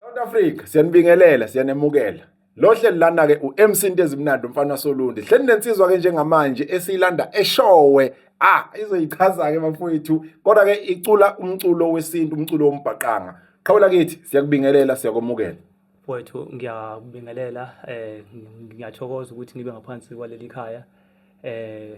South Africa siyanibingelela siyanemukela lo hleli lana ke uMC into ezimnandi umfana waSolundi hleli nensizwa ke njengamanje esiyilanda eshowe ah izoyichaza ke bafowethu kodwa ke icula umculo wesintu umculo wombhaqanga qhawula kithi siyakubingelela siyakomukela mfowethu ngiyakubingelela um ngiyathokoza ukuthi ngibe ngaphansi kwaleli khaya eh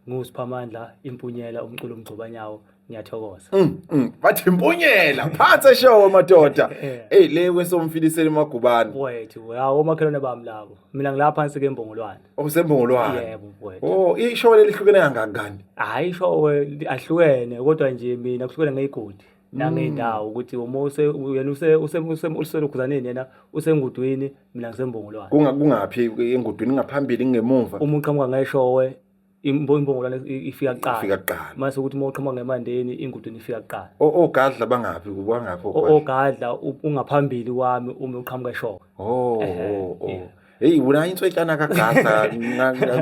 ngusiphamandla impunyela umculo umgcobanyawo ngiyathokoza mm, mm. bathi impunyela phansi show madoda hey le kwesomfilisela emagubane wethu hawo omakhelwane bami labo mina ngilapha phansi ke embongolwane osembongolwane oh, yebo wethu oh ishow lelihlukene kangangani hayi ishow ahlukene kodwa nje mina kuhlukene ngeyigodi nangendawo ukuthi uma use yena use use use uselokhuzaneni yena usengudwini mina ngisembongolwane Kunga- kungaphi engudwini ngaphambili ngemuva uma uqhamuka ngeshowe imbo- imbongolwane i- ifika ifika kuqala kuqala mase ukuthi uma uqhamuka ngemandeni ingudwini ifika kuqala O- ogadla bangaphi kubangaphi O- ogadla ogwadla u- ungaphambili kwami uma uqhamuka eshowe oh Ehhe, oh, oh. yeah. heyi wena intswetyana kagada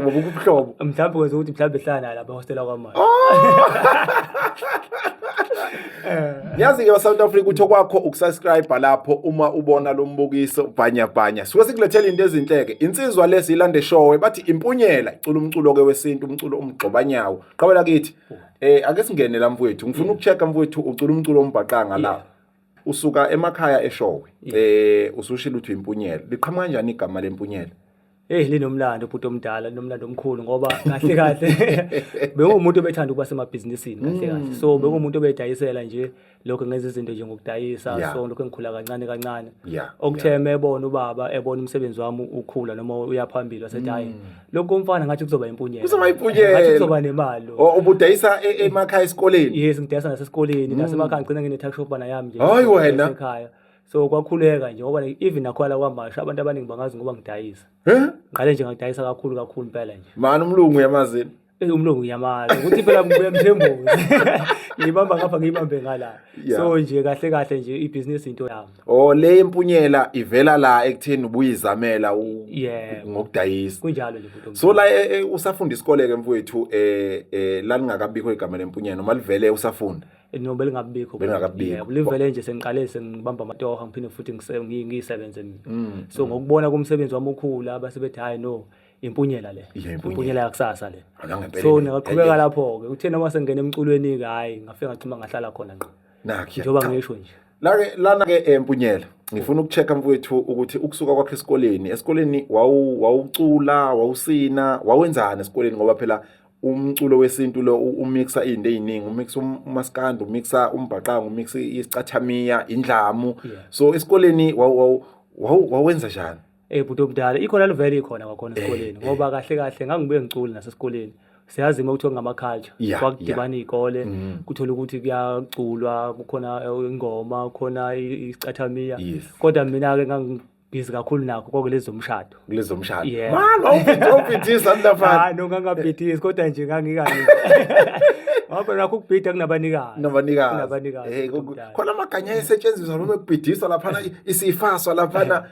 ubuhlobo mhlawumbe kwenza ukuthi mhlawumbe ehlala naye lapha ehostela kwamanje yazi ke basouth africa uthi okwakho ukusubscribe lapho uma ubona lo mbukiso bhanyabhanya suke sikulethela into ezinhleke insizwa lesi ilande showe bathi impunyela icula umculo-ke wesintu umculo umgxobanyawo qabela kithi um ake singene la mfowethu ngifuna ukucheck-a mfowethu ucula umculo ombhaqanga la usuka emakhaya eshowe eh usushilo uthi impunyela liqhamuka kanjani igama lempunyela Hey linomlando ubhuti omdala linomlando omkhulu ngoba kahle kahle bengumuntu obethanda ukuba semabhizinisini kahle kahle mm. so bengumuntu obedayisela nje lokho ngenza izinto nje ngokudayisa yeah. so lokho engikhula kancane kancane yeah. okutheme yeah. ebona ubaba ebona umsebenzi wami ukhula noma uyaphambili wasethi hayi mm. lokho komfana ngathi kuzoba impunyela Kuzoba impunyela. ngathi kuzoba nemali lo. O- ubudayisa e- emakhaya esikoleni yes ngidayisa nasesikoleni nasemakhaya ngigcina ngine-tuck shop bana yami nje Mm. Hhayi wena. ekhaya so kwakhuleka nje ngoba like, even nakhona la kwamasha abantu abaningi bangazi ngoba ngidayisa Heh? ngiqale nje ngakudayisa kakhulu kakhulu impela nje mani umlungu uyamazini Eh, umlungu uyamazi ukuthi phela ngibuya mthembuzi ngiyibamba ngapha ngiyibambe ngala Yeah. so nje kahle kahle nje ibhizinisi into yami Oh le impunyela ivela la ekutheni ubuyizamela u- Yebo. ngokudayisa. kunjalo nje bhuti So la eh, eh, usafunda isikole ke mfowethu eh eh lalingakabikho igama lempunyela noma livele usafunda. no belingabikho Belingakabikho. Yebo, livele nje sengiqale sengibamba amatoha ngiphinde futhi ngise- ngi- ngiyisebenze mina Mm. so ngokubona kumsebenzi wami okhulu abasebethi hayi no impunyela le Iya, impunyela. impunyela yakusasa le Akangempela so impela. ningaqhubeka lapho-ke uthe noma sengena emculweni-ke hhayi ngafike ngachuma ngahlala khona ngqo njengoba ngisho nje lake lana ke empunyela eh, ngifuna ukuchecka mfowethu ukuthi ukusuka kwakhe esikoleni esikoleni wawu wawucula wawusina wawenzani esikoleni ngoba phela umculo wesintu lo umixa izinto eziningi umixa um, umaskandi umixa umbhaqanga umixa isicathamiya indlamu so esikoleni wawenza njani Eh bhuti omdala ikhona livele ikhona kwakhona eh, esikoleni eh. ngoba kahle kahle ngangibuye ngiculi nasesikoleni. Siyazi uma kuthiwa ngama culture yeah, kwakudibana yeah. izikole mm. kuthola ukuthi kuyaculwa kukhona eh, ingoma kukhona isicathamiya yes. kodwa mina ke busy kakhulu nakho konke lezi zomshado kulezi zomshado Yeah. mani wawubhidisa mntafana hayi no ngangabhidisi kodwa nje ngangikanye ngoba nakho ukubhida kunabanikazi nabanikazi Kunabanikazi, hey, kuthi khona amaganya ayesetshenziswa noma ekubhidiswa laphana isifaswa laphana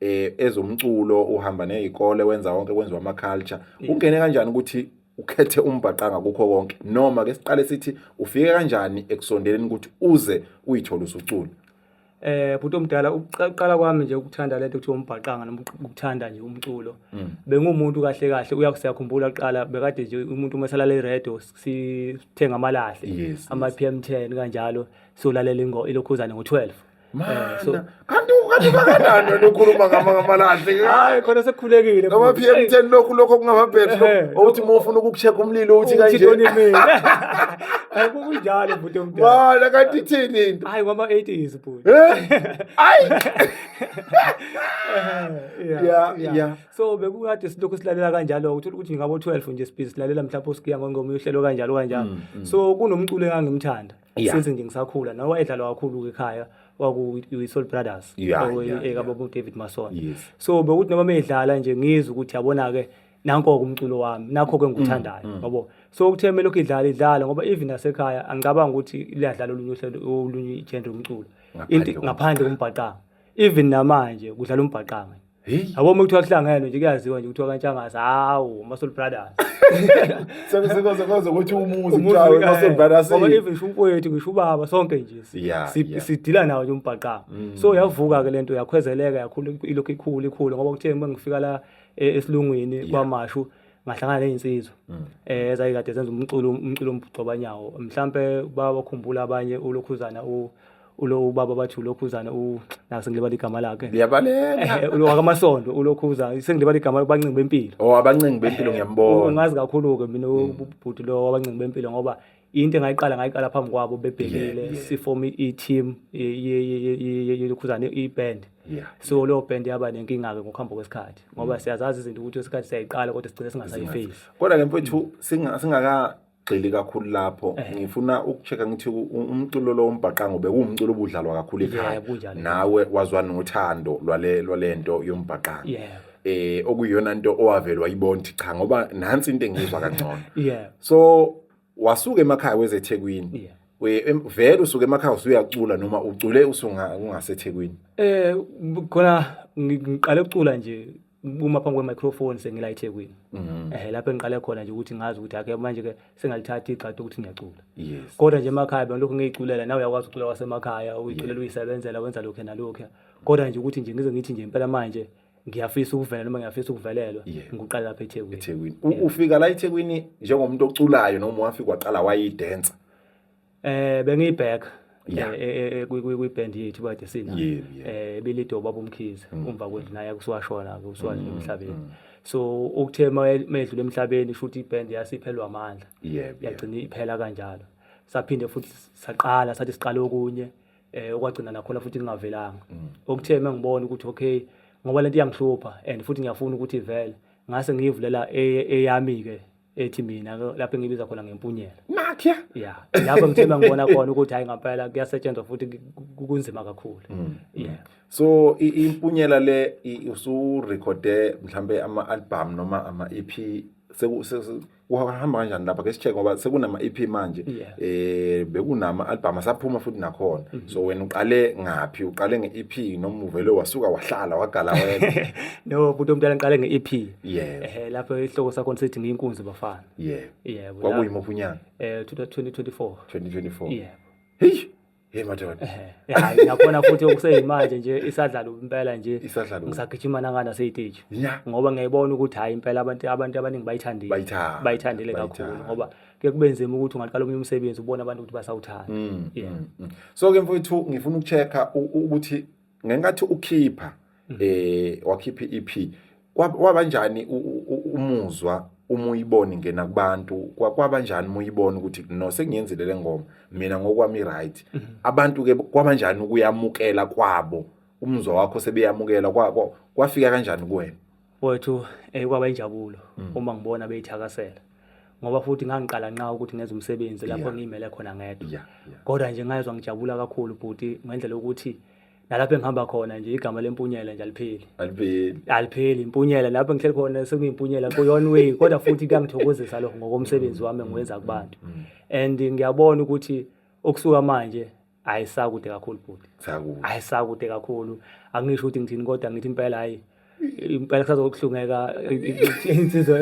eh ezomculo uhamba nezikole wenza konke kwenziwa ama culture ungene kanjani ukuthi ukhethe umbhaqanga kukho konke noma ke siqale sithi ufike kanjani ekusondeleni ukuthi uze uyithole usucula eh bhuti omdala ukuqala kwami nje ukuthanda lento kuthiwa umbhaqanga noma ukuthanda nje umculo mm. bengumuntu kahle kahle uyakusiyakhumbula kuqala bekade nje umuntu uma esalala iradio sithenga amalahle ama PM10 kanjalo solalela ingo ilokhuzane ngo12 Mana, so- kanti kanti kanganani wena ukhuluma ngama- ngamalahle hayi khona sekukhulekile ngama p m ten lokhu lokhu okungama-battery Ehe. lokhu, owuthi uma ufuna ukuku-check umlilo uthi kanje uthitonimin hayi kunjalo bhuti omdala mana kanti ithini into hayi kwama-80s bhuti Eh? ayi Yeah, Yeah, yeah. yeah. so bekukade silokhu silalela kanjalo uthola ukuthi ngabo-12 nje sibhizi silalela mhlawumbe osikuya ngongoma uyohlelo kanjalo kanjalo so kunomculo engangimthanda Yeah. since nje ngisakhula nawe wayedlalwa kakhulu-ke ekhaya kwakuyi-soul brothers Yeah, kwakuyi- yeah, yeah. ekababa david masona Yes. so bekuthi noma meyidlala nje ngizwe ukuthi yabona-ke nanko-ke umculo wami nakho-ke ngikuthandayo yabo so kuthe melokhu idlala idlala ngoba even nasekhaya angicabanga ukuthi liyadlala olunye uhlelo olunye ijende lomculo Ngaphandle Into- kombhaqanga. ngaphandle kombhaqanga even namanje kudlala umbhaqanga Hey. Abo uma kuthiwa kuhlangenwe nje kuyaziwa nje kuthiwa kantshangase hawu Muscle Brothers. Sebe sekoze koze ukuthi umuzi kuthiwa Muscle Brothers. Ngoba even ngisho umfowethu ngisho ubaba sonke nje sidila nawo nje umbhaqama. Mm. So yavuka ke lento yakhwezeleka yakhula ilokhu ikhulu ikhulu ngoba kuthe uma ngifika la e, esilungwini kwamashu ngahlangana nezinsizwa mm. eh ezayikade zenza umculo umculo ombhucobanyawo mhlambe babakhumbula abanye ulokhuzana u ulo ubaba bathi ulokhuzana u la sengilibala igama lakhe liyabaleka eh, wakamasondo ulokhuzana sengilibala igama abancingi bempilo oh abancingi bempilo eh, ngiyambona ungazi kakhulu ke mina hmm. ubhuti lo wabancingi bempilo ngoba into engayiqala ngayiqala phambi kwabo bebhekile sifoma i-team yelokhuzana i-band so leyo band yaba nenkinga-ke ngokuhamba kwesikhathi ngoba hmm. siyazazi izinto ukuthi isikhathi siyayiqala kodwa sigcine singasayifeyisi kodwa ke mfethu singaka gxili kakhulu lapho eh. ngifuna ukucheka ngithi umculo lo umbhaqango bekuwumculo obudlalwa kakhulu ekhaya nawe wazwa nothando lwale lwalento yombhaqango eh okuyona into owavelwa ibonti cha ngoba nansi into engizwa kangcono so wasuka emakhaya wezethekwini vele usuke emakhaya usuyacula noma ucule usungasethekwini eh khona ngiqale ukucula nje uma phambi kwe-microphone sengila ethekwini um mm. eh, lapho engiqale khona nje ukuthi ngazi ukuthi ake manje-ke sengalithatha igxadi ukuthi ngiyacula kodwa nje emakhaya bena lokhu ngiyiculela nawe uyakwazi ukucula kwasemakhaya uyiculela uyisebenzela wenza lokhu nalokhu kodwa nje ukuthi nje ngize ngithi nje impela manje ngiyafisa ukuvelela noma ngiyafisa ukuvelelwa ngiqala lapha eThekwini eThekwini ufika la eThekwini njengomuntu oculayo noma wafika waqala wayidansa Eh bengiyiback Yeah. eh, eh, eh, kwi- kwi- kwiband yethu kade sina Yebo, yebo. eh bilido baba umkhize umva kwendlu naye kusiwashona ke usiwadlula emhlabeni so ukuthe mayedlula emhlabeni shuthi iband yasiphelwa amandla Yebo, yebo. yagcina iphela kanjalo saphinde futhi saqala sathi siqale okunye eh okwagcina nakhona futhi kungavelanga okuthe mangibona ukuthi okay ngoba lento iyangihlupha and futhi ngiyafuna ukuthi ivele ngase ngiyivulela eye- eyami ke ethi mina lapho engibiza khona ngempunyela nakhe ya lapho ngithemba ngibona khona ukuthi hayi ngampela kuyasetshenzwa futhi kunzima kakhulu mm. yeah so impunyela le usu recorde mhlambe ama album noma ama EP kuhamba kanjani lapha ke sicheck ngoba sekunama EP manje eh bekunama album asaphuma futhi nakhona mhm. so wena uqale ngaphi uqale nge EP noma uvele wasuka wahlala wagala wena no buthi omntana ngiqale nge EP yebo ehe lapho isihloko sakho sithi ngiyinkunzi bafana yebo yebo kwakuyimuphi unyaka eh 2024 2024 yebo hey hey madoda hayi yakhona futhi okuseyimanje nje isadlala impela nje isadlala ngisagijima nangana seyiteji ngoba ngiyayibona ukuthi hayi impela abantu abantu abaningi bayithandile bayithandile kakhulu ngoba ke kubenzima ukuthi ungaqala omunye umsebenzi ubona abantu ukuthi basawuthanda mm, mm, mm. so ke mfowethu ngifuna ukuchecka ukuthi ngenkathi ukhipha mhm. eh wakhipha iEP kwabanjani umuzwa uma uyibona ingena kubantu kwabanjani uma uyibona ukuthi no sengiyenzile le ngoma mina ngokwami right mhm. abantu ke kwabanjani ukuyamukela kwabo umuzwa wakho sebeyamukela kwafika kanjani kuwena wethu eh kwaba injabulo mm. uma ngibona beyithakasela ngoba futhi ngangiqala nqa ukuthi ngenze umsebenzi lapho yeah. ngiyimele khona ngedwa yeah, yeah. kodwa nje ngayezwa ngijabula kakhulu bhuti ngendlela ukuthi nalapho engihamba khona nje igama lempunyela nje alipheli alipheli alipheli impunyela lapho ngihleli khona sekuyimpunyela kuyona way kodwa futhi kuyangithokozisa lokho ngokomsebenzi mm, wami mm, engiwenza kubantu mm, and ngiyabona ukuthi ukusuka manje hayi sakude kakhulu bhuti sakude hayi sakude kakhulu angisho ukuthi ngithini kodwa ngithi impela hayi impela kusazokuhlungeka insizwa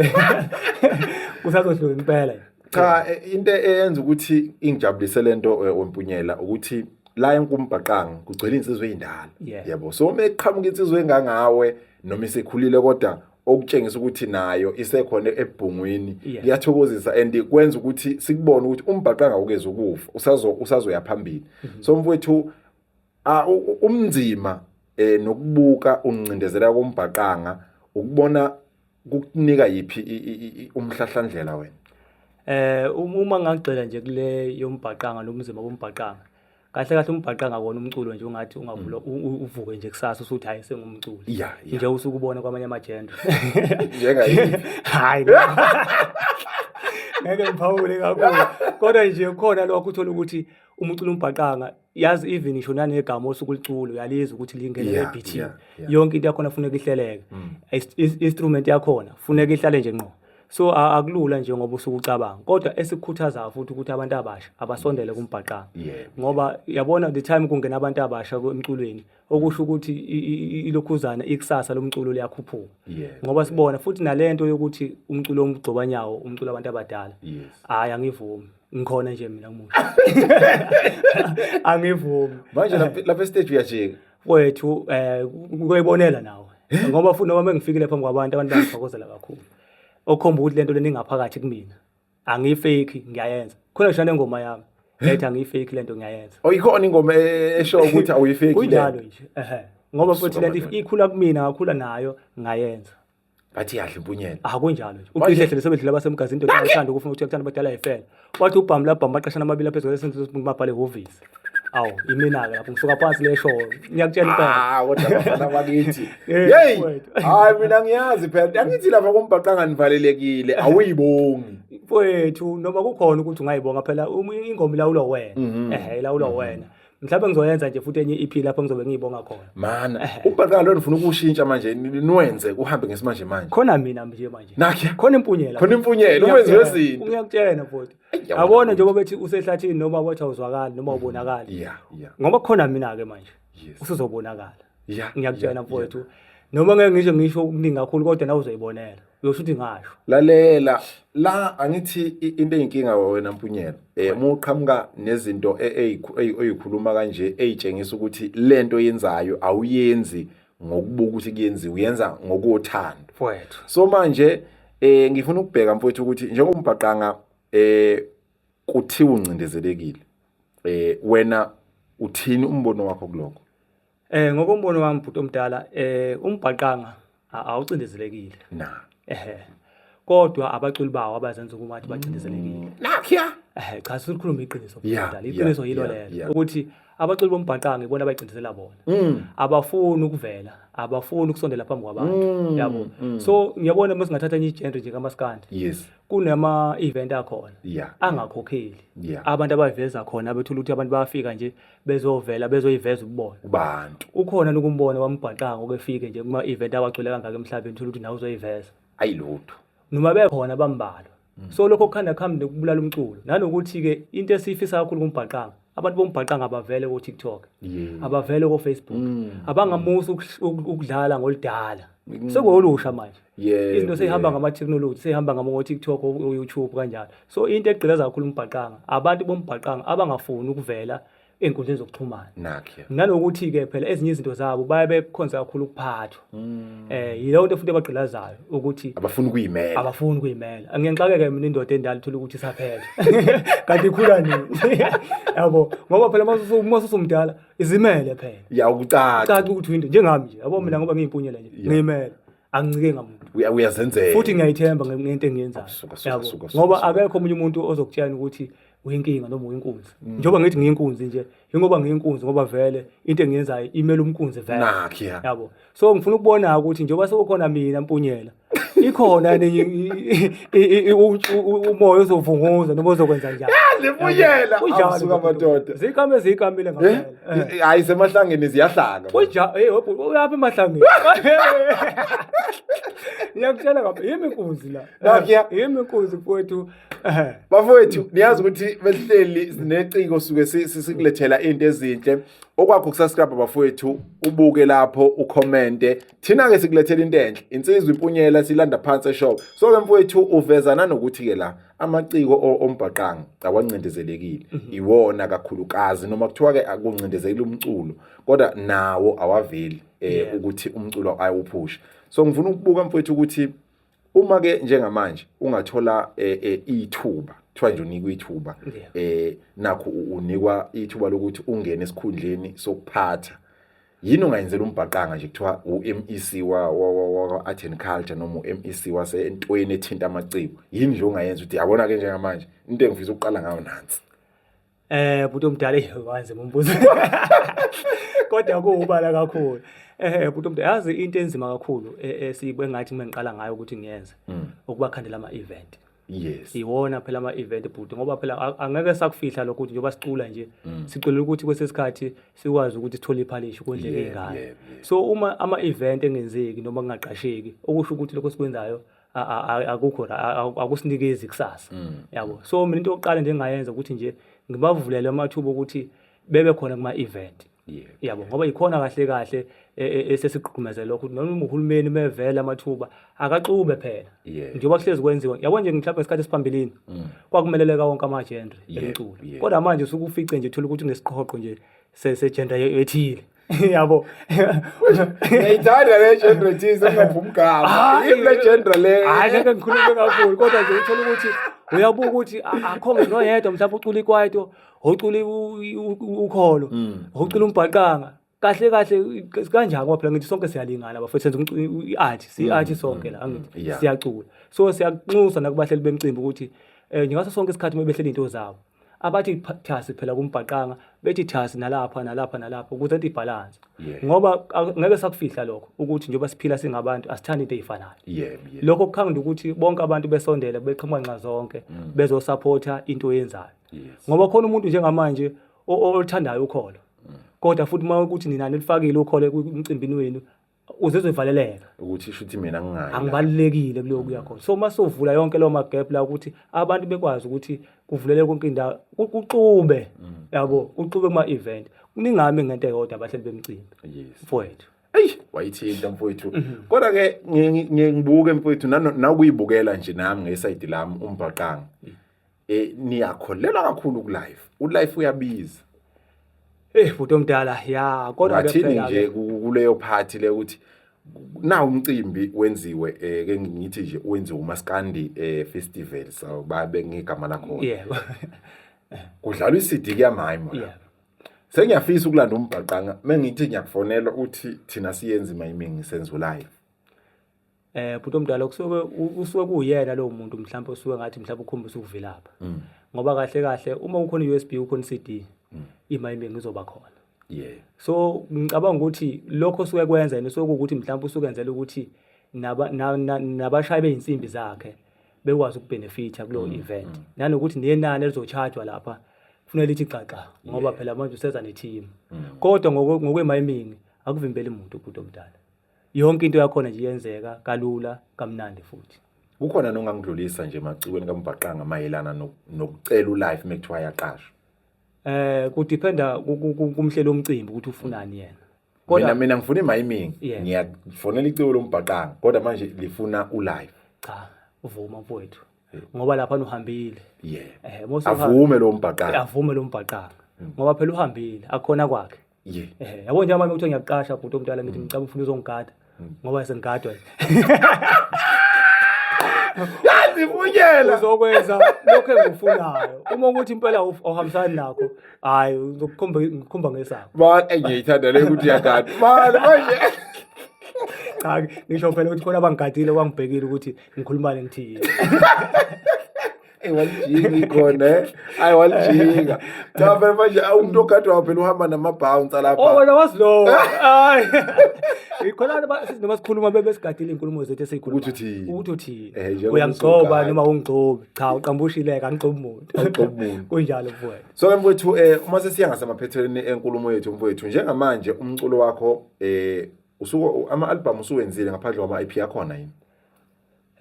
kusazohlunga impela cha e, into eyenza ukuthi ingijabulise lento e, wempunyela ukuthi la enkumbhaqanga kugcwele insizwe endala yabo so uma eqhamuka insizwe engangawe noma isekhulile kodwa okutshengisa ukuthi nayo isekhona ebhungwini kuyathokozisa and kwenza ukuthi sikubone ukuthi umbhaqo angawukezi ukufa usazo usazoya phambili mhm. so mfowethu umnzima eh nokubuka uncindezela kombhaqanga ukubona kukunika yiphi umhlahlandlela wena eh uma ngagxila nje kule yombhaqanga lomzimba wombhaqanga kahle kahle umbhaqa ngakona umculo nje ungathi ungavula mm. uvuke nje kusasa usuthi hayi sengumculo nje usukubona kwamanye amajendo njengayi hayi ngeke ngiphawule kakhulu kodwa nje khona lokho uthola ukuthi umuculo umbhaqanga yazi even isho nanegama osuku liculo uyalizwa ukuthi lingene yeah, ebeathini yeah, yeah. yonke into yakhona funeka ihleleke mm. instrument yakhona funeka ihlale nje ngqo so akulula njengoba usuke ucabanga kodwa esikhuthazayo futhi ukuthi abantu abasha abasondele kumbhaqanga ngoba yabona the time kungena abantu abasha emculweni okusho ukuthi ilokhuzana ikusasa lomculo liyakhuphuka ngoba sibona futhi nalento yokuthi umculo omgcobanyawo umculo abantu abadala hayi angivumi ngikhona nje mina ngimusha angivumi manje lapha estage uyajika Kwethu eh kuyibonela nawe. Eh? Ngoba futhi noma mengifikile phambi kwabantu abantu bangithokozela kakhulu. Okhomba ukuthi lento leningaphakathi kumina. Angiyifake ngiyayenza. Khona ngisho nengoma yami. Eh? Ethi angiyifake lento ngiyayenza. Oyikona oh, ingoma e-, esho ukuthi awuyifake lento. Kunjalo nje. Ehhe. Ngoba futhi lento ikhula kumina ngakhula nayo ngayenza. bathi yadla impunyela ah kunjalo nje ucishe hle sebedlula basemgazi indoda ethanda ukufuna ukuthi ekuthanda abadala ifela wathi ubhamu labhamu baqashana amabili aphezulu esenzo somuntu mabhale hhovisi awu imina ke lapho ngisuka phansi lesho ngiyakutshela impela ah kodwa bafana bakithi hey hayi mina ngiyazi phela angithi lapha kombhaqa nganivalelekile awuyibongi mfowethu noma kukhona ukuthi ungayibonga phela ingoma ilawulwa wena mhm. ehe ilawulwa mhm. wena mhlawumbe ngizoyenza nje futhi enye iphi lapho ngizobe ngiyibonga khona mana ubhakala lo ngifuna ukushintsha manje niwenze kuhambe ngesimanje manje khona mina nje manje nakhe khona impunyela khona impunyela uwenze wezinto ngiyakutshela futhi yabona njengoba bethi usehlathini noma wathi awuzwakali noma ubonakali ngoba khona mina ke manje usuzobonakala ya ngiyakutshela ya, mfowethu ya. noma ngeke ngisho ngisho okuningi kakhulu kodwa nawe uzoyibonela uyosho ukuthi ngasho lalela la angithi into eyinkinga wena mpunyela eh muqhamuka nezinto eyikhuluma e, e, kanje eyitshengisa ukuthi lento yenzayo awuyenzi ngokubuka ukuthi kuyenziwa uyenza ngokothando mfowethu so manje eh ngifuna ukubheka mfowethu ukuthi njengoba umbhaqanga eh kuthiwa uncindezelekile eh wena uthini umbono wakho kuloko eh ngokombono wami bhuti omdala eh umbhaqanga awucindezelekile na ehe kodwa abaculi bawo abazenza ukuthi bacindezelekile mm. nakhiya ehe cha sikhuluma iqiniso bhuti omdala iqiniso yilo lelo ukuthi abaculi bombhaqanga ibona abayicindezela bona mm. abafuni ukuvela abafuni ukusondela phambi kwabantu mm, yabo mm. so ngiyabona uma singathatha enye igenre nje kamaskandi yes kunama event akhona yeah. angakhokheli yeah. abantu abayiveza khona bethula ukuthi abantu bayafika nje bezovela bezoyiveza ububona kubantu ukhona nokumbona wambhaqanga okefike nje kuma event awagcwele kangaka emhlabeni thola ukuthi nawe uzoyiveza ayilutho noma bekhona bambalwa mm. so lokho kukhanda khambi nokubulala umculo nanokuthi ke into esiyifisa kakhulu kumbhaqanga abantu bombhaqanga abavele ko TikTok yeah. abavele ko Facebook mm. abangamusa ukudlala ngolidala mm. sekuwolusha manje yeah, izinto seyihamba yeah. ngama technology seyihamba ngama ngo TikTok o YouTube kanjalo so into egqilaza kakhulu umbhaqanga abantu bombhaqanga abangafuni ukuvela enkundleni zokuxhumana nalokuthi ke phela ezinye izinto zabo baye bekhonza kakhulu ukuphathwa Mm. Eh yileyo nto futhi abagqilazayo ukuthi abafuni ukuyimela. Abafuni ukuyimela. Angiyengixakeke mina indoda endala uthola ukuthi isaphela. Kanti ikhula nini? Yabo ngoba phela mase mase somdala izimele phela. Ya ukucaca. Caca ukuthi winto njengami nje. Yabo mina mm. ngoba ngiyimpunyela nje. Ngiyimela. Angincike ngamuntu. Uyazenzela. Futhi ngiyayithemba ngento engiyenzayo. Yabo ngoba akekho omunye umuntu ozokutshela ukuthi uyinkinga noma uyinkunzi. Mm. Njengoba ngithi ngiyinkunzi nje ingoba ngiyinkunzi ngoba vele into engiyenzayo imele umkunzi vele Nakhi, ya. yabo so ngifuna ukubona ukuthi njengoba sekukhona mina mpunyela ikhona yini i- i- i- i- u- u- umoya ozovunguza noma ozokwenza njani Limbuyela. Kunjalo, Awusuka bhuti. amadoda. zikame zikamile Eh? ngampela Eh, Hayi semahlangeni ziyahlanga. kunja hey webhu uyaphi emahlangeni ngiyakutshela ngampela yimi inkunzi la Nakhi, ya. yimi inkunzi mfowethu bafowethu niyazi ukuthi besihleli sineciko suke sikulethela into ezinhle okwakho kusascribe bafowethu ubuke lapho ucommente thina ke sikulethela into enhle insizwa impunyela silanda phansi eshop so ke mfowethu uvezana nokuthi ke la amaciko ombhaqanga awancindezelekile mhm. iwona kakhulukazi noma kuthiwa ke akuncindezelekile umculo kodwa nawo awaveli eh ukuthi umculo ayewuphusha so ngifuna ukubuka mfowethu ukuthi uma ke njengamanje ungathola eh, eh, ithuba kuthiwa nje unikwa ithuba eh nakho unikwa ithuba lokuthi ungene esikhundleni sokuphatha yini ungayenzela umbhaqanga nje kuthiwa uMEC wa wa Art and Culture noma uMEC wase entweni ethinta amaciko yini nje ongayenza ukuthi yabona ke njengamanje into engifisa ukuqala ngayo nansi Eh bhuti omdala eyi wanze mumbuzo. Kodwa kuwubala kakhulu. Eh bhuti omdala yazi into enzima kakhulu e- esiyibe ngathi mina ngiqala ngayo ukuthi ngiyenze Mm. ukubakhandela ama event. Yes. Iwona phela ama event bhuti ngoba phela a- angeke sakufihla lokho ukuthi njengoba sicula nje Mm. siculela ukuthi kwesesikhathi sikwazi ukuthi sithole iphalishi kondleke Yebo, ingane. yebo, yebo. So uma ama event engenzeki noma kungaqasheki okusho ukuthi lokho sikwenzayo akukho akusinikezi kusasa mm. yabo so mina into yokuqala nje engayenza ukuthi nje ngibavulele amathuba okuthi bebe khona kuma event yabo ngoba yikhona kahle kahle e, e, esesigqumeze lokho noma uhulumeni mevela amathuba akaxube phela njengoba kuhlezi kwenziwa yabo nje mhlawumbe ngesikhathi esiphambilini mm. kwakumeleleka wonke amagendre emculo kodwa manje usukufice nje thola ukuthi unesiqhoqo nje sejenda ethile yabo ngiyayithanda le genre thize ungaphi umgama ah, yini le genre le hayi ngeke ngikhulume kakhulu kodwa nje uthola ukuthi uyabuka ukuthi akho ngisho noyedwa mhlawumbe ucula ikwaito ocula ukholo mm. ocula umbhaqanga kahle kahle kanjani ngoba phela ngithi sonke siyalingana bafethu senza i-art siyi-art mm, sonke mm, la mm, angithi siyacula so siyanxusa nakubahleli bemcimbi ukuthi um ngaso sonke isikhathi uma behlela iy'nto zabo abathi thasi phela kumbhaqanga bethi thasi nalapha nalapha nalapha ukuze into ibhalanse ngoba ngeke sakufihla lokho ukuthi njengoba siphila singabantu asithandi into eyifanayo lokho kukhangela ukuthi bonke abantu besondele beqhamuka nxa zonke mm. bezosupporta into oyenzayo ngoba khona umuntu njengamanje oluthandayo ukholo mm. kodwa futhi uma ukuthi nina nilifakile ukholo emcimbini wenu uzizwe ivaleleka ukuthi isho ukuthi mina ngingayi angibalulekile kuleyo kuya khona so uma sovula yonke leyo magap la ukuthi abantu bekwazi ukuthi kuvulele konke indawo kuxube mm. yabo kuxube kuma event kuningami ngento eyodwa abahleli bemcimbi mfowethu eyi wayithinta mfowethu mhm. kodwa ke ngibuke mfowethu nawukuyibukela nje nami ngesayidi lami umbhaqanga mm. eh niyakholelwa kakhulu ku life u life uyabiza Eh bhuti omdala ya kodwa wathini nje kuleyo party le ukuthi na umcimbi wenziwe eh ke ngithi nje wenziwe umaskandi eh festival so babe ngigama lakho yebo kudlalwa iCD kuyamayimo yeah. sengiyafisa ukulanda umbhaqanga mengithi ngiyakufonela uthi thina siyenza imayiming senziwe live eh bhuti omdala kusuke usuke kuyena lowo muntu mhlawumbe usuke ngathi mhlawumbe ukhombisa ukuvilapha mm. ngoba kahle kahle uma ukhona USB ukhona CD mm. imayimbe ngizoba khona yeah so ngicabanga ukuthi lokho usuke kwenza yena usuke ukuthi mhlawumbe usuke enzela ukuthi naba nabashayi beyinsimbi zakhe bekwazi ukubenefitha kulo mm, event nanokuthi nenani elizochargewa lapha kufanele lithi xaxa ngoba phela manje useza ne team kodwa ngokwemayimini akuvimbeli muntu umuntu omdala yonke into yakhona nje iyenzeka kalula kamnandi futhi kukhona nongangidlulisa nje emacikweni kambhaqanga mayelana no- nokucela ulife uma kuthiwa yaqashwa eh kudiphenda ku- ku- ku- kumhleli omcimbi ukuthi ufunani yena mina kodwa mina ngifuna imayimingi Yeah. ngiyafonela iciko lombhaqanga kodwa manje lifuna ulife cha uvuma mfowethu ngoba lapha uhambile yeah eh mose uhambe- avume lo mbhaqanga avume lo mbhaqanga ngoba phela uhambile akhona kwakhe Ye. Eh, yabo nje mama ukuthi ngiyakuqasha bhuti omdala ngithi ngicela ufuna uzongigada ngoba sengigadwa yazivunyela uzokwenza lokho engikufunayo uma ukuthi impela awuf- awuhambisani nakho hayi ngizokukhomba ngikhomba ngesakho Man, ey, ngiyayithanda le ukuthi yakade. Man, manje. cha ngisho phela ukuthi khona abangigadile bangibhekile ukuthi ngikhulumane ngithini Eyi walijinga ikhona eh. Hayi walijinga. Cha phela manje umuntu ogadwayo phela uhamba nama-bounce alapha. Oh wena wazi lowo. Hayi. Ikhona noma sikhuluma bebe sigadile izinkulumo zethu esiyikhuluma. Ukuthi uthini? Ukuthi uthini? Eh, Uyangigcoba noma ungigcobi. Cha uqambushileka angigcobi umuntu. Angigcobi umuntu. Kunjalo mfowethu. So ke mfowethu eh uma sesiya ngasemaphethelweni enkulumo yethu mfowethu njengamanje umculo wakho eh usuke ama-albhamu usuwenzile ngaphandle kwama-ip akhona yini?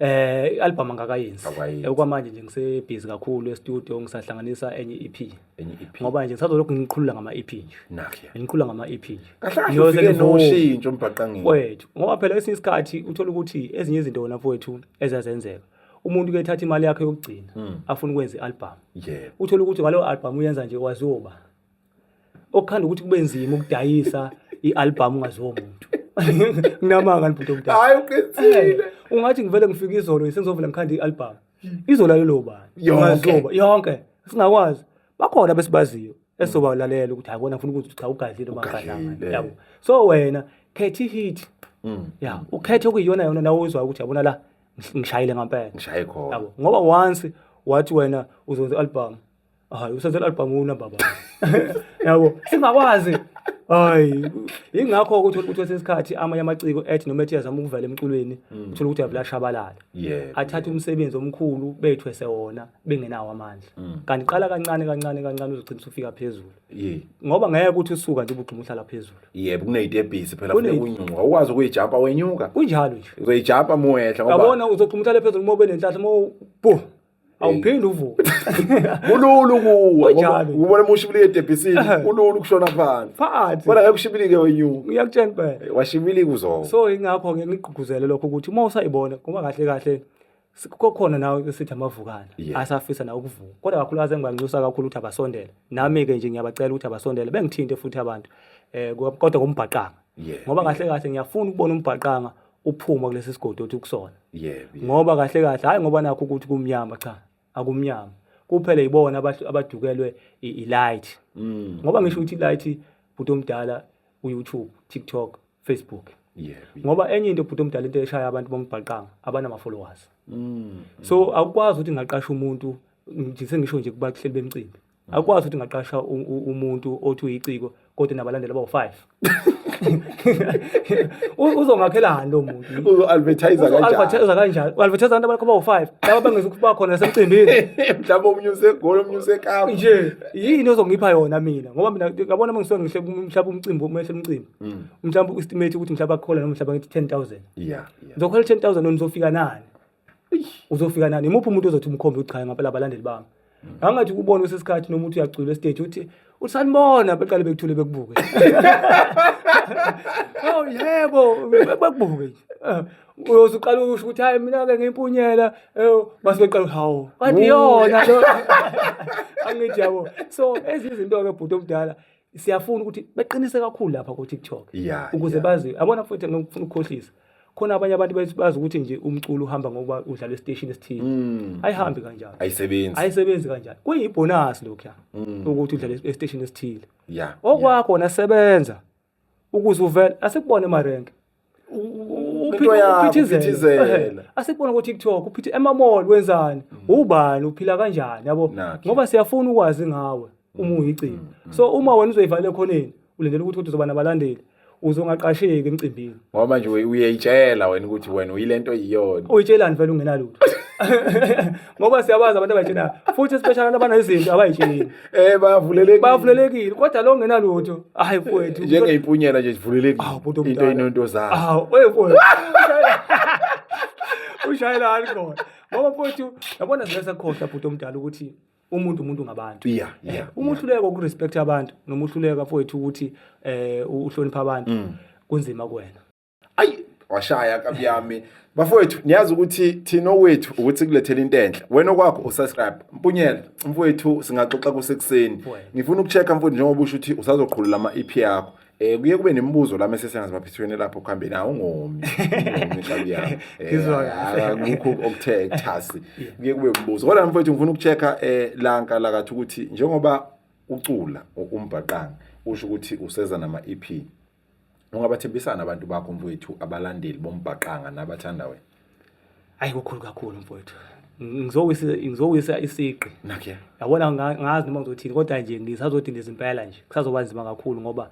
Eh i-album angakayenzi. Akayenzi. Eh, Okwamanje nje ngisebhizi kakhulu e-studio ngisahlanganisa enye EP. Enye EP. Ngoba nje ngisazolokhu ngiqhulula ngama-EP nje. Nakho. Ngiqhulula ngama-EP nje. Kahle kahle Ngiyoze ufike ngivume. noshintsho umbhaqangeni. Wethu ngoba phela esinye isikhathi uthola ukuthi ezinye izinto wena mfowethu ezazenzeka. Umuntu ke ethatha imali yakhe yokugcina afuna ukwenza i-album. Yebo. Uthola ukuthi ngaleyo album uyenza nje waziyoba. okukhanda ukuthi kube nzima ukudayisa i-album ungaziwo muntu nginamanga libhuti omdala hayi uqinisile eh, ungathi ngivele ngifika izolo sengizovela ngikhanda i-album hmm. izolalelo bani yonke yonke singakwazi bakhona besibaziyo esobalalela ukuthi hayi bona ngifuna ukuthi cha ugadlile noma ngadlanga yabo so wena khetha i-hit hmm. ya ukhethe okuyiyona yona nawe uzwayo ukuthi yabona la ngishayile ngampela ngishaye khona yabo ngoba once wathi wena uzonza i-album hayi usenzela albhamuna baba yabo singakwazi hayi ingakho ukuthi ukuthi sesikhathi amanye amaciko ethi noma ethi yazama ukuvela emculweni mm. uthola ukuthi avela shabalala athathe umsebenzi omkhulu bethwese wona bengenawo amandla mm. kanti qala kancane kancane kancane uzogcina usufika phezulu ngoba ngeke ukuthi usuka nje ubugcuma uhlala phezulu yebo kuneyitebhisi phela kufuneka unyunga ukwazi ukuyijampa wenyuka kunjalo nje uzoyijampa muwehla ngoba yabona uzogcuma uhlale phezulu uma ube nenhlahla uma bu awuphinde uvuke kulula ukuwa Kunjalo. ubona uma ushibilika edebhisini Ehe. kulula ukushona phansi phansi bona ngeke ushibilike wenyuka uyakutshela impela washibilika uzowa so ingakho-ke ngigqugquzele lokho ukuthi uma usayibona ngoba kahle kahle si- kokhona nawe esithi amavukana Yeah. asafisa nawe ukuvuka kodwa kakhulukazi engibanxusa kakhulu ukuthi abasondele nami-ke nje ngiyabacela ukuthi abasondele bengithinte futhi abantu um kodwa ngombhaqanga Yes. ngoba kahle kahle ngiyafuna ukubona umbhaqanga uphuma kulesi sigodi othi ukusona yebo ngoba kahle kahle hayi ngoba nakho ukuthi kumnyama cha akumnyama kuphela yibona abadukelwe i-light mm. ngoba ngisho ukuthi i-light bhuti omdala u-youtube tiktok facebook ngoba enye into bhuti omdala into eshaya abantu bombhaqanga abanama-followers mm. so akukwazi ukuthi ngaqasha umuntu nje sengisho nje kubahleli bemcimbi akwazi ukuthi ngaqasha umuntu othi uyiciko kodwa nabalandeli abawu-five uzongakhelani lo muntu uzo-advertisa kanjani u-advertisa abantu abakho abawu-five laba bengezukuba khona nasemcimbini mhlawumbe omunye usegoli omunye usekapa nje yini ozongipha yona mina ngoba mina ngabona uma ngisuke ngihle mhlawumbe umcimbi umehle umcimbi mm. mhlawumbe u-estimate ukuthi mhlawumbe akukhole noma mhlawumbe ngithi ten thousand ngizokhola ten thousand nizofika nani uzofika nani imuphi umuntu ozothi umkhombe uchaye ngapela abalandeli bami angathi kubona usesikhathi noma uthi uyacula estage uthi usanibona beqale bekuthule bekubuke oh yebo bekubuke nje eh, uyoze uqala usho ukuthi hayi mina ke ngimpunyela eh, base beqala hawo kanti yona lo angithi yabo so ezinye izinto ke bhuti omdala siyafuna ukuthi beqinise kakhulu lapha ku TikTok yeah, ukuze yeah. bazi abona mfowethu ngifuna ukukhohlisa khona abanye abantu bazi ukuthi nje umculo uhamba ngokuba udlala estation esithile mm. ayihambi kanjalo ayisebenzi ayisebenzi kanjalo kuyibonus lokho mm. ukuthi udlala estation esithile yeah okwakho yeah. nasebenza ukuze uvele asikubone marenke uphithizela asikubona ukuthi TikTok uphithi emamall wenzani mm. ubani uphila kanjani yabo ngoba siyafuna ukwazi ngawe uma mm. uyigcina mm. so uma wena uzoyivala ekhoneni ulindele ukuthi uzoba nabalandeli uzongaqasheki emcimbini ngoba manje uyayitshela wena ukuthi wena uyilento iyona uyitshelani vele ungenalutho ngoba siyabazi abantu abayitshenayo futhi especially abantu abanezinto abayitsheli eh bavulelekile bavulelekile kodwa lo ngenalutho hayi mfowethu njengeyimpunyela nje sivulelekile ah, into inonto zayo ah oye mfowethu ushayela alcohol ngoba mfowethu yabona zike sakhohlwa bhuti omdala ukuthi umuntu umuntu ngabantu yeah, eh, yeah, umuhluleka ukurespect abantu nomuhluleka mfowethu ukuthi eh uhlonipha abantu mm. kunzima kuwena ayi washaya kabi yami bafowethu niyazi ukuthi thina owethu ukuthi kulethela into enhle wena okwakho usubscribe mpunyela mfowethu singaxoxa kusekuseni ngifuna ukuchecka mfowethu njengoba usho ukuthi usazoqhulula ama EP yakho eh kuye kube nemibuzo la mese sengazi baphethweni lapho kuhambe nawo ungomi ngihlali yami ngikho okuthe ekuthasi kuye kube umbuzo kodwa mfowethu ngifuna ukuchecka eh lanka lakathi ukuthi njengoba ucula umbhaqanga usho ukuthi useza nama EP Ungabathembisana abantu bakho mfowethu abalandeli bombhaqanga nabathanda wena. Hayi kukhulu kakhulu mfowethu. Ngizowisa ngizowisa isiqi. Nakhe. Yabona ngazi noma ngizothini kodwa nje ngisazodinga izimpela nje. Kusazoba nzima kakhulu ngoba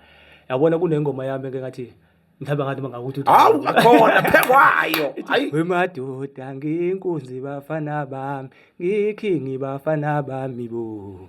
yabona kunengoma yami eke ngathi mhlawumbe ngathi mangakuthi hawu akhona phekwayo hayi wemadoda nginkunzi bafana bami ngikhingi bafana bami bo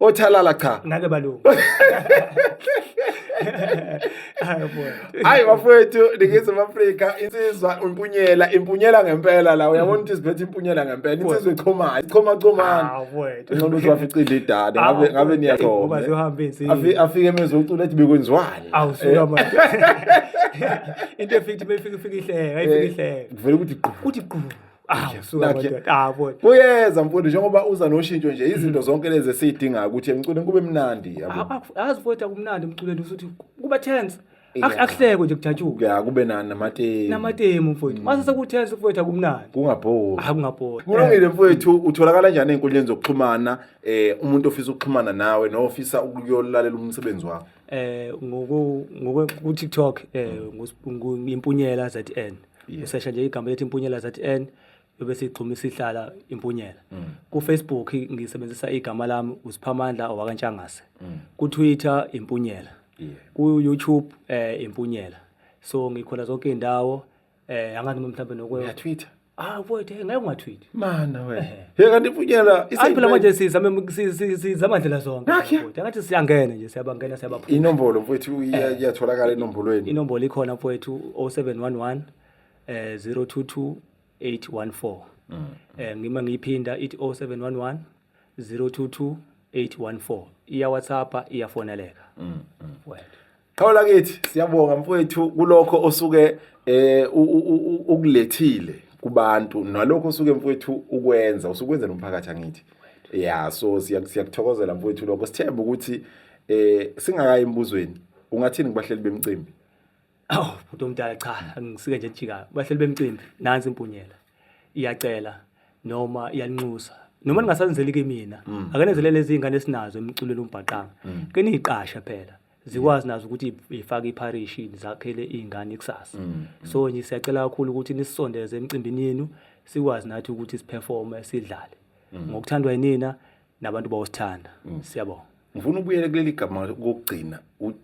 othalala cha ngake balungu hayi bafowethu ningizimu afrika insizwa impunyela impunyela ngempela la uyabona ukuthi iziphethe impunyela ngempela insizwa ichomayo ichomachomana ncono ukuthi waficile idada ngabe niyachoma afike emezwe ucula ethi bekwenziwani eh. into efika ifika ihleka ifika ihleka kuvele ukuthi gqu ukuthi gqu kuyeza mfundi njengoba uza noshintsho nje izinto zonke lezi esiyidingayo ukuthi emculweni kube mnandi yabo azi futhi akumnandi emculweni futhi kuba tense akuhlekwe nje kujatshuke ya kube nani namatemu namatemu mfowethu mm. mase sekuthensa mfowethu akumnandi kungabhori akungabhori kulungile eh. mfowethu utholakala njani ezinkundleni zokuxhumana eh umuntu ofisa ukuxhumana nawe nofisa ukuyolalela umsebenzi wakho eh ngoku ngoku TikTok eh mm. ngimpunyela ZN yeah. usesha nje igama lethi impunyela zn yobe sigxuma isihlala impunyela mm. kufacebook ngisebenzisa igama lami usiphamandla owakantshangase mm. kutwitter impunyela yeah. kuyoutube um eh, impunyela so ngikhona zonke iy'ndawo um eh, angathi mhlawumbe nokwe twitter ah mfowethu ngeke ungatwitter Mana we. Hey kanti ipunyela isiphela manje sizame sizama ndlela zonke. Kodwa ngathi siyangena nje siyabangena siyabaphuma. Inombolo mfowethu eh. iyatholakala enombolweni. Inombolo ikhona mfowethu 0711 eh 022 814. Mm. Eh ngima ngiyiphinda ithi 0711 022 814. Iya WhatsApp iyafoneleka. Mm. mm. Wena. Qhawe lakithi siyabonga mfowethu kulokho osuke eh ukulethile kubantu nalokho osuke mfowethu ukwenza usukwenza nomphakathi angithi yeah so siyakuthokozela mfowethu lokho sithemba ukuthi eh singakayi embuzweni ungathini kubahleli bemcimbi awu oh, bhuti omdala cha angisike nje jika bahleli bemcimbi nansi impunyela iyacela noma iyanxusa noma ningasanzeli kimi mina mm. akenezelele izingane esinazo emculweni umbhaqanga mm. ke niyiqasha phela zikwazi nazo ukuthi ifake ipharishi zakhele iy'ngane ikusasa mm, mm. so nje siyacela kakhulu ukuthi nisisondeze emcimbini yenu sikwazi nathi ukuthi siperforme sidlale mm. ngokuthandwa yinina nabantu bawusithanda siyabonga ngifuna ubuyele kuleli gama kokugcina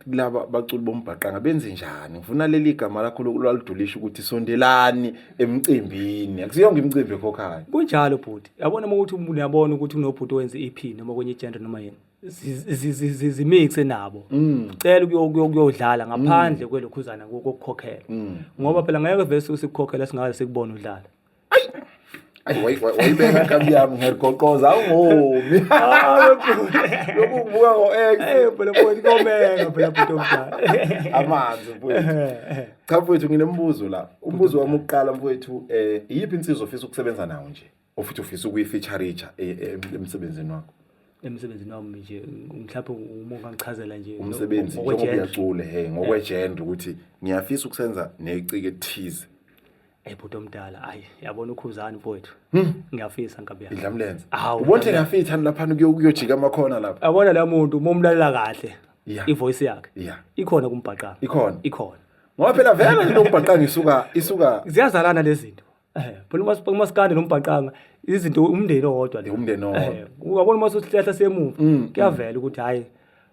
laba baculi bombhaqanga benze njani ngifuna leli gama lakho lwalidulisha ukuthi sondelani emcimbini akusiyonke imicimbi ekhokhayo kunjalo bhuti yabona uma ukuthi umuntu uyabona ukuthi kunobhuti owenza i-ep noma kwenye igender noma yini zimixe nabo mm. cela ukuyodlala ngaphandle mm. kwelokhuzana kokukhokhela mm. ngoba phela ngeke vese usikukhokhela singakaze sikubone udlala wayibeka nkabi yami ngerigoqoza awungomi lokuvuka ngo-eamanzi mfowethu cha mfowethu nginembuzo la umbuzo wami ukuqala mfowethu um iyiphi insizwa ofisa ukusebenza nawo nje ofuthi ufisa ukuyifeaturitsha e, e, emsebenzini wakho emsebenzini wami nje mhlawumbe umonga ngichazela nje umsebenzi ngokuyacule he eh. ngokwejenda ukuthi ngiyafisa ukusenza necike thize ebhuti eh, omdala ayi yabona ukhuzani mfowethu hmm. ngiyafisa nkabi yami idlamlenze ubona ngiyafitha lapha kuyojika amakhona lapha yabona la muntu uma umlalela kahle ivoice yakhe ikhona kumbhaqanga ikhona ikhona ngoba phela vele lokubhaqanga isuka isuka ziyazalana lezi zinto Eh, phela uma sipa umaskande nombhaqanga izinto umndeni owodwa le. Umndeni owodwa. Eh, Ungabona uma sosihlahla semuva Mm, kuyavela ukuthi hayi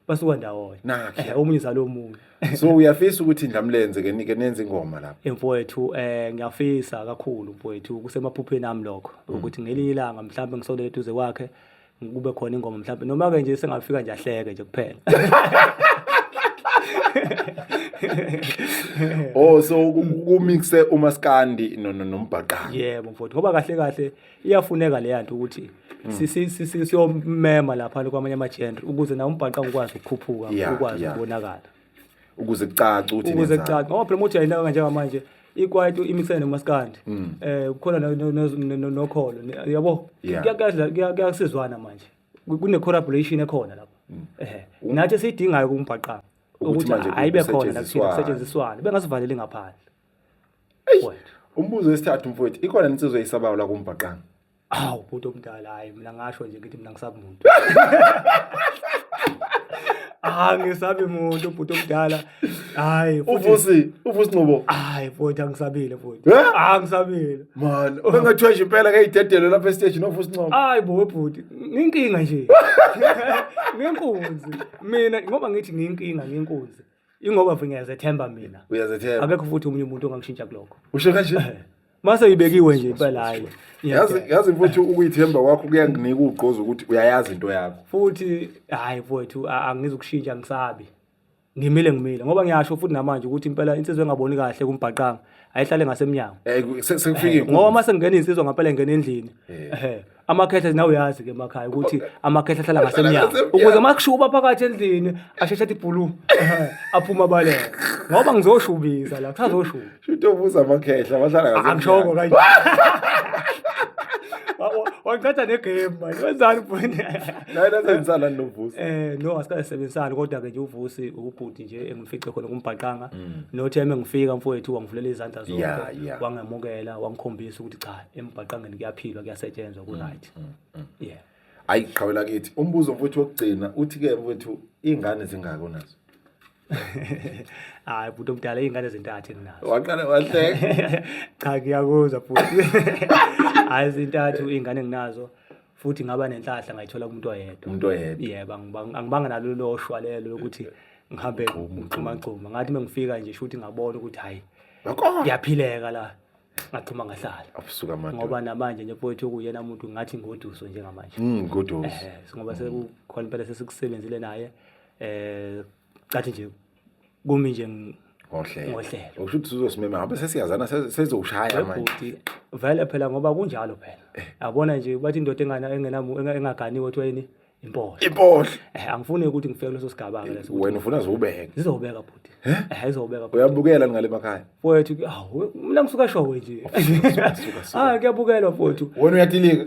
basuka ndawonye. Nakhe. Eh, Omunye uzala omunye. so uyafisa ukuthi ndlamlenze ke nike nenze ingoma lapha Emfowethu eh ngiyafisa kakhulu mfowethu kusemaphupheni ami lokho ukuthi ngelinye ilanga mhlawumbe ngisondele eduze kwakhe kube khona ingoma mhlawumbe noma-ke nje sengafika nje ahleke nje kuphela oh so kumixe umaskandi nombhaqanga yebo mfowethu ngoba kahle kahle iyafuneka leya nto ukuthi hmm. siyomema lapha kwamanye ama-genre ukuze nawo umbhaqanga ukwazi ukukhuphuka ukwazi ukubonakala ukuze kucace ukuthi ukuze nenzani. kucace ngoba phela muthi ayinaka kanje manje ikwaito imixene nomaskandi Mm. eh kukhona no- no- no- no- no- nokholo ne- yabo Yeah. Kuya- kuyadla- kuya- kuyasizwana manje Ku- kune collaboration ekhona lapho ehe nathi esiyidingayo kumbhaqanga Mm. Ukuthi ukuthi manje ayibe khona la kusetshenziswane. kusetshenziswane bengasivaleli ngaphandle Eish, umbuzo wesithathu mfowethu ikhona insizwa eyisabayo la kumbhaqanga awu bhuti omdala hayi mina ngasho nje ngithi mina ngisabi muntu ah ngisabi muntu ubhuti omdala hayi futhi- uvusi uvusi nqobo hayi futhi angisabile futhi Eh? ah ngisabile mani obengathiwa nje impela ngeyidedelo lapha esiteji novusi nqobo hayi bo bhuti nginkinga nje nginkunzi mina ngoba ngithi nginkinga nginkunzi ingoba mfo ngiyazethemba mina uyazethemba akekho futhi omunye umuntu ongangishintsha kulokho usho kanje mase uyibekiwe nje impela hayi yazi yazi futhi ukuyithemba kwakho kuyanginika ugqozo ukuthi uyayazi into yakho futhi hayi mfowethu angizukushintsha ngisabi ngimile ngimile ngoba ngiyasho futhi namanje ukuthi impela insizwa engaboni kahle kumbhaqanga ayihlale ngasemnyango eh, sekufikile eh, ngoba mase ngingena insizwa ngempela ngena endlini eh. amakhehla nawe uyazi ke emakhaya ukuthi amakhehla ahlala ngasemnyango ukuze uma kushuka uba phakathi endlini asheshe athi bhulu aphuma abaleke ngoba ngizoshubiza la kusazoshuba Shuthi obuza amakhehla bahlala ngasemnyango. angishoko kanje Wa- wa- wangithatha negame manje wenzani bhuni Naye nasengisalani novusa. Eh no asikasebenzisani kodwa ke nje uvusi ubhuti nje engimfice khona kumbhaqanga nothi yami ngifika mfowethu wangivulela izandla zonke Mm. Yeah, yeah. wangemukela wangikhombisa ukuthi cha embhaqangeni kuyaphilwa kuyasetshenzwa ku right mm, mm, mm. yeah ayi qhawela kithi umbuzo mfuthu wokugcina uthi ke mfuthu ingane zingaki onazo hayi bhuti omdala iy'ngane ezintathu enginazo waqala wahleka cha ngiyakuzwa bhuti hayi zintathu iy'ngane enginazo futhi ngaba nenhlahla ngayithola kumuntu oyedwa umuntu oyedwa yebo angibanga nalo loshwa lelo lokuthi ngihambe ngixumagxuma ngathi uma ngifika nje shuthi ngabona ukuthi hhayi ngiyaphileka la ngaphuma ngahlala abusuka manje ngoba namanje nje mfowethu okuyena umuntu ngathi ngoduso njengamanje mm ngoduso eh ngoba mm. sekukhona impela sesikusebenzile naye eh cathi nje kumi nje ngohlelo ngohlelo ukusho ukuthi uzosimema ngabe sesiyazana sezoshaya manje vele phela ngoba kunjalo phela eh. yabona nje bathi indoda engana engena engaganiwe kuthiwa yini impohlo impohlo eh angifuni ukuthi ngifike kuleso sigaba ke leso wena ufuna zobeka zizobeka bhuti eh izobeka bhuti uyabukela ngale makhaya mfowethu awu mina ngisuka showe nje ah kuyabukela mfowethu wena uyatilika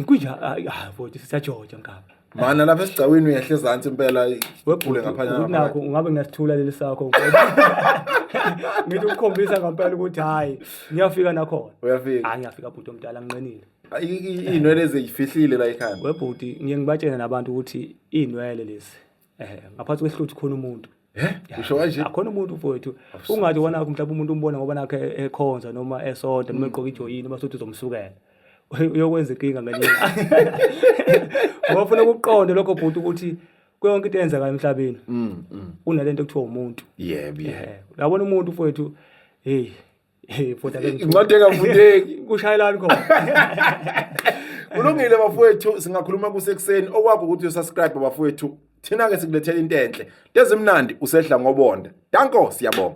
kunja ah mfowethu sisajoja ngapha mana lapha esigcawini uyehle ezansi impela wephule ngaphanyana nakho ungabe ngasithula leli sakho ngithi ukukhombisa ngempela ukuthi hayi ngiyafika nakhona uyafika hayi ngiyafika bhuti omdala nginqenile iy'nwele eziyifihlile la ekhanda webhuti ngiye ngibatshene nabantu ukuthi iy'nwele lezi um ngaphansi kwesihluthi khona umuntu usho kanje akhona umuntu mfowethu ungathi wona mhlawumbe umuntu umbona ngoba nakhe ekhonza noma esonta noma egqoka ijoyini uma sothi uzomsukela uyokwenza inkinga ngelinye ngofuna ukuqonda lokho bhuti ukuthi kuyonke into eyenzekayo emhlabeni mm, mm. unalento ekuthiwa umuntu yebo yebo labona umuntu mfowethu hey Hey, futhi ake ngithuke. incwadi engafundeki Kushayelani khona. kulungile bafowethu singakhuluma kusekuseni okwakho ukuthi usubscribe bafowethu thina-ke sikulethela into enhle into ezimnandi usehla ngobonda danko siyabonga